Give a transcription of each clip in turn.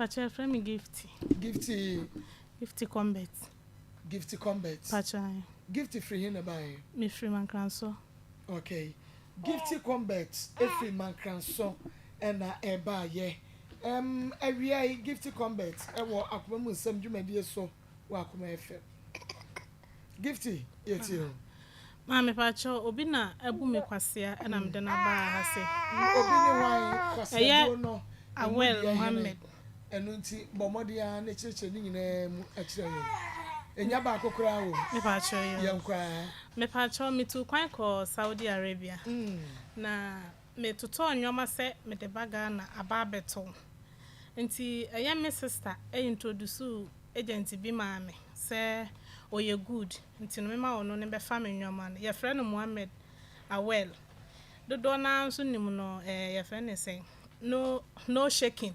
Pacho yɛfrɛ me Gifty. Gifty. Gifty Combet. Gifty Combet. Pacho ayi. Gifty firi he na ɛbaa he? Me firi Mankransɔ. Okay. Gifty Combet efiri Mankransɔ ɛna ɛbaa yɛ. Ɛm awia yi Gifty Combet ɛwɔ akoma mu nsɛm dwumadie so wɔ Akoma FM. Gifty yɛtie ho. Maa mepakyɛw obi na abu me kwasea na mede no aba ha se. Obi ne hwan? Kwasea buo no emu deɛ hene? Ɛno nti bɔ mmɔden ara ne kyerɛkyerɛ ne nyinaa mu kyerɛ yɛn. Ɛnya baako koraa wom? Mepakyɛw yoo. Yɛn koraa. Mepakyɛw metuu kwan kɔɔ Saudi Arabia na Metotɔɔ nnoɔma sɛ mede ba Ghana aba abɛtɔn nti ɛyɛ me sister introduce agent bi maa me sɛ ɔyɛ good nti no mema ɔno ne bɛfa me nnoɔma no. Yɛfrɛ no Mohammed Awel. Dodoɔ no ara nso nim no ɛɛ yɛfrɛ no sɛn? No no shaking.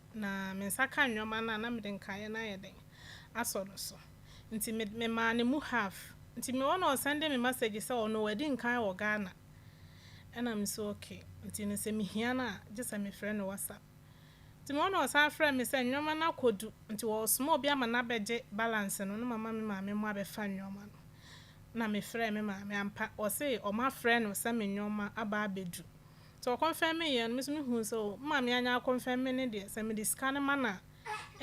Na me nsa ka nneɛma no a, na mede nkaeɛ no ayɛ dɛn asɔ no so. Nti me memaa no mu half. Nti me one ɔsɛnde me masɛgye sɛ ɔno wadi nkan wɔ Ghana. Ɛna me nso ok. Nti no sɛ mehia no a, gye sɛ mefrɛ no WhatsApp. Nti me one ɔsan frɛɛ me sɛ nneɛma no akɔdu, nti wɔresoma obi ama no abɛgye balance no na mama me maame mmɔ abɛfa nneɛma no. Ɛna mefrɛɛ me maame, ampa ɔse wɔafrɛ no sɛ me nneɛma aba abɛdu. Nti ɔkɔnfɛmee yɛ no me so me huu sɛ oh mma me anyɛ akɔnfɛme ne deɛ sɛ mede sika no ma no a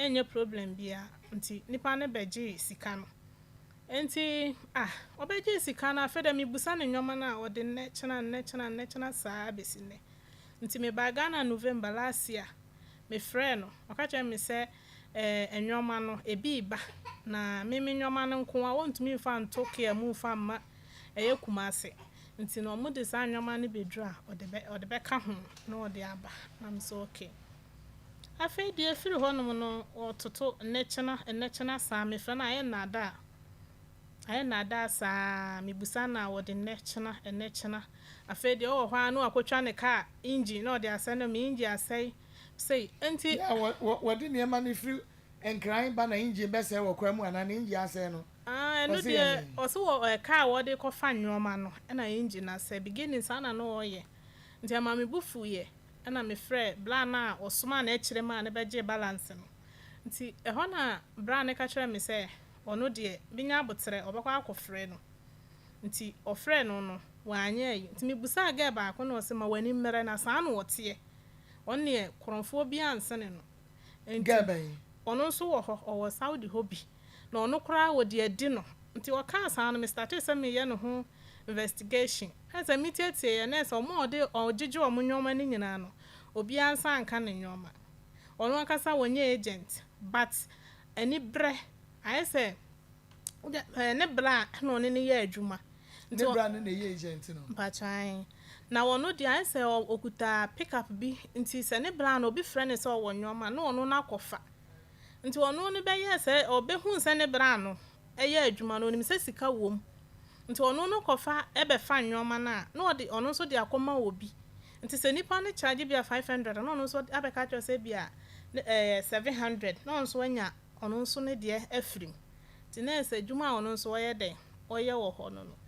ɛnyɛ problem biaa nti nipa no bɛgyee sika no nti ah ɔbɛgyee sika no afei deɛ mebusa ne nnoɔma no a ɔde nnɛ kyena nnɛ kyena nnɛ kyena saa bɛsi nnɛ nti me baa Ghana November last year me frɛɛ no ɔka kyerɛɛ me sɛ eh nnoɔma no ebi reba na me me nnoɔma no nko a ɔntumi mfa nto care mu mfa mma ɛyɛ Kumasi Nti na ɔmo de saa nnoɔma no bɛduru a ɔde bɛ ɔde bɛka ho na ɔde aba na me sɛ ok. Afei deɛ ɛfiri hɔ nom no ɔtoto nnɛkyena nnɛkyena saa me frɛ no ayɛ nnaadaa ayɛ nnaadaa saa me busa no a ɔde nnɛkyena nnɛkyena afei deɛ ɔwɔ hɔ ara na wakɔtwa ne car engine na ɔde asɛe na me engine asɛe sei nti. Yeah, wɔ wɔ wɔde nneɛma no firi Nkran ba na engine bɛsɛe wɔ kwan mu anaa ne engine asɛe no, Ah, ɛno ɔse yɛ deɛ, dɛn? ɔse wɔ ɛ, car a wɔde kɔfa nnoɔma no, ɛna engine no asɛe. Beginning saa na na ɔɔyɛ. Nti ɛmaa me bo fuuiɛ, ɛna me frɛɛ braa no a ɔsomaa n'akyire maa no bɛgyee balance no. Nti ɛhɔ na braa no ka kyerɛɛ me sɛ ɔno deɛ, menya aboterɛ, ɔbɛkɔ akɔfrɛ no. Nti ɔfrɛɛ no no, wanyɛ ayi. Nti mebusaa girl baako na ɔse ma w'ani mmrɛ na saa na ɔteɛ. Ɔno deɛ, korɔmfoɔ biara nsene no. Nti, ɔno nso wɔ hɔ, ɔwɔ Saudi hɔ bi, na ɔno koraa wɔde adi no. Nti ɔkaa saa no, me startee sɛ meyɛ ne ho investigation. Ɛne sɛ metiatieeɛ, na ɛsɛ wɔn a wɔde wɔgyegye wɔn nnoɔma no nyinaa no, obiara nsa anka ne nnoɔma. Ɔno ankasa ɔnyɛ agent, but aniberɛ, ayɛ sɛ ne bra na ɔne no yɛ adwuma. Ne bra ne na ɛyɛ agent no? Mpakyɛw, aane. Na ɔno deɛ ayɛ sɛ ɔkuta pickup bi nti sɛ ne bra no obi frɛ no sɛ ɔwɔ nnoɔma na ɔno no akɔfa. Nti ɔno no bɛyɛɛ sɛ ɔbɛhuu sɛ ne bra no yɛ adwuma no ɔnim sɛ sika wɔ mu nti ɔno no kɔfa bɛfa nnoɔma no a na ɔde ɔno nso de akɔma obi. Nti sɛ nipa no charge ebia five hundred a na ɔno nso abɛka akyerɛ wo sɛ ebia ɛyɛ seven hundred na ɔno nso anya ɔno nso ne deɛ afiri mu. Nti na ayɛ sɛ adwuma a ɔno nso ɔyɛ dɛn ɔyɛ wɔ hɔ no no.